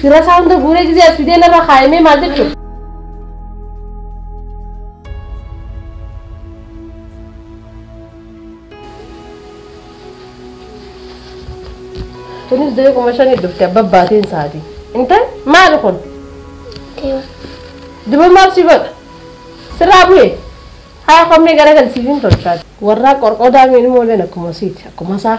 Fira isaa hunda guuree gisee as fidee narra kaa'imee maal jechuudha? Kunis dee kuma shanii dhufte abba baateen isaati. Intal maali kun? Diba maaf si godha? Sirraa bu'e? Haa kommee gara galsiif hin tolchaati. Warraa qorqodaa miidhuma oleen akkuma siiti akkuma isaa.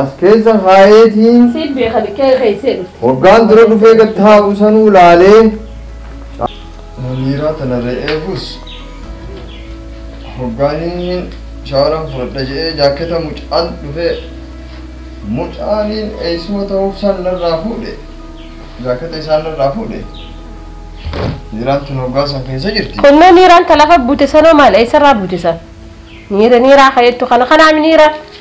As keessa kaa'eetiin. Siin beeka bikkee keessee dhufte. Waggaan dura dhufee gad taa'u sanuu laalee. Muniiraa tana re'eefus hoggaan inni shaawaran fudhadha je'ee jaakketa mucaan dhufee mucaaniin eessuma ta'uuf san narraa fuudhe jaakketa isaan narraa fuudhe niiraan tun hoggaa san keessa jirti. Kunnoo niiraan ta lafa buute sanoo maal eessarraa buute san? Niira niiraa ka'eettu kana kanaa niira.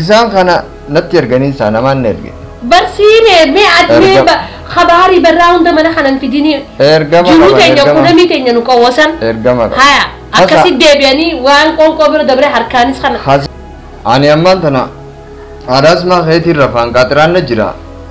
Isaan kana natti erganii isaa namaan na erge. Barsiine mee ati mee Erga- ba- kabaarii barraa hunda mana kanan fidinii Ergama jiruu qaban, teenya ergama. kudhamii teenya nu qawwasan. Ergama qaban. Haya Hasa- akkasi deebi'anii waan qoonqoo bira dabre harkaanis kana. Has- Ani ammaan tana haadhaasmaa keetiin rafaan qaaxiraan na jira.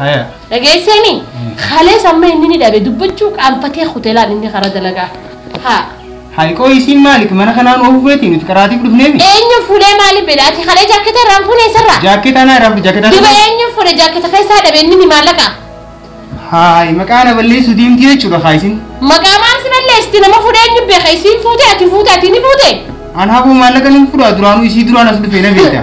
Haya. Dhageesseemi? Kalees amma inni ni dhabe dubbachuu qaanfatee hoteelaan inni karaa dalagaa. Haa. Hayiqoo isiin maaliif mana kanaan oofuu feeti nuti karaatiif dhufneemi. Eenyu fuudhee maaliif beela? Ati kalee jaakketa irraan fuudhee isarraa? Jaakkeeta anaa irraa fudhe jaakkeeta. Duba eenyu fuudhe jaakketa keessaa dhabe inni ni maallaqa? Haay maqaa na balleessuu deemti jechuudha haa isin. Maqaa maal si balleessi nama fuudhee eenyu beeka isiin fuute ati fuute ati ni fuute? An haboo maallaqa nan fudhaa duraanuu isii duraan as dhufee na beekta.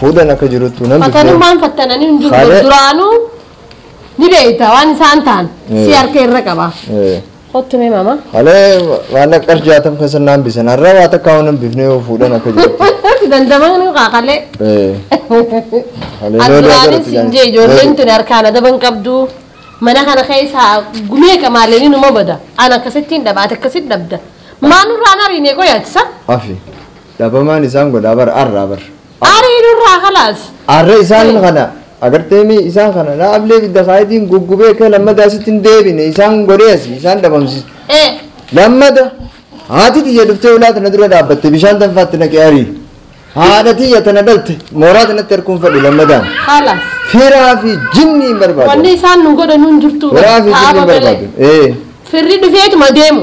Fuudhan akka jiruttu nan dubbee. Fatanummaan fattananii hin jiru Haadha- duraanuu ni beekta waan isaan ta'an Eh. si harka irra qaba. Eh, Kottu mee mama. Halee maallaqa qarshii jaatam keessa naan bisan har'a waa takka waan hin bifne yoo fuudhan akka jiruttu. Si dandamaa nu kaakalee. Eh, halee yoo Aduraanis daagaratu hin jee ijoolleen tuni harkaan adaban qabdu. Mana kana keessa gumee qamaalee numa bada. An akkasittiin dhabaate akkasitti dhabda. Maa nurraan hariinee qoyaachisa? Afi. Dhabamaan isaan godhaa bar arraa bar. Arii nurraa kalaas. Arra isaan kana agartee mi isaan kana na ablee bidda kaayitiin guggubee kee lammada asitti hin deebine isaan godhee asi isaan dhabamsiis. Ee. Lammada haati tiyya dhuftee ulaa tana dura dhaabbatte bishaan tanfaatti naqee arii. Haadha tiyya tana dhalte mooraa tanatti harkuun fadhu lammadaan. Kalaas. Firaa fi jinnii hin barbaadu. Wanni isaan nu godhan hin jirtu. Firaa fi jinnii Taaba hin malee. barbaadu. Ee. Firri dhufeetuma deemu.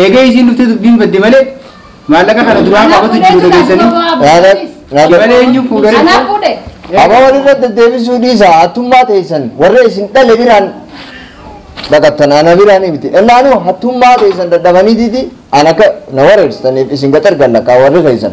Eega isiin dhuftee dubbiin badde malee maallaqa kana duraa qabatu jiru dhageessanii. Shimalee eenyu fuudhee Anaa fuudhe. Aba walirra deddeebisuu dhiisa hattummaa teessan warra isin dhale biraan dhaqattan ana biraan miti ennaanu hattummaa teessan dadhabaniititi an akka na wareersitaniif isin gaxar gallaqaa warri keessan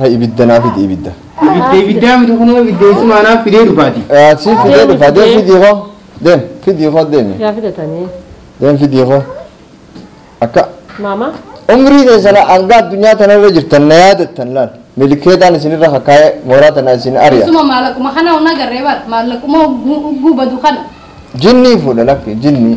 Ra ibidda naa fidi ibidda. Ibidda ibiddaa miti kunoo ibidda eessumaa naaf fidee dhufaati. Ah, Si fidee Deemi, dhufa deem fidee. fidii koo deem fidii koo deemi Yaa fidatanii. deem fidii koo akka Maama. umrii keessana hanga addunyaa tanarra jirtan na yaadattan laal milikeetaan isinirra kakkaa'ee mooraa tana isin ari'a Isuma maallaquma kana hunda garree bara maallaquma ugguu ugguu badu kana. jinnii fuudha lakki jinnii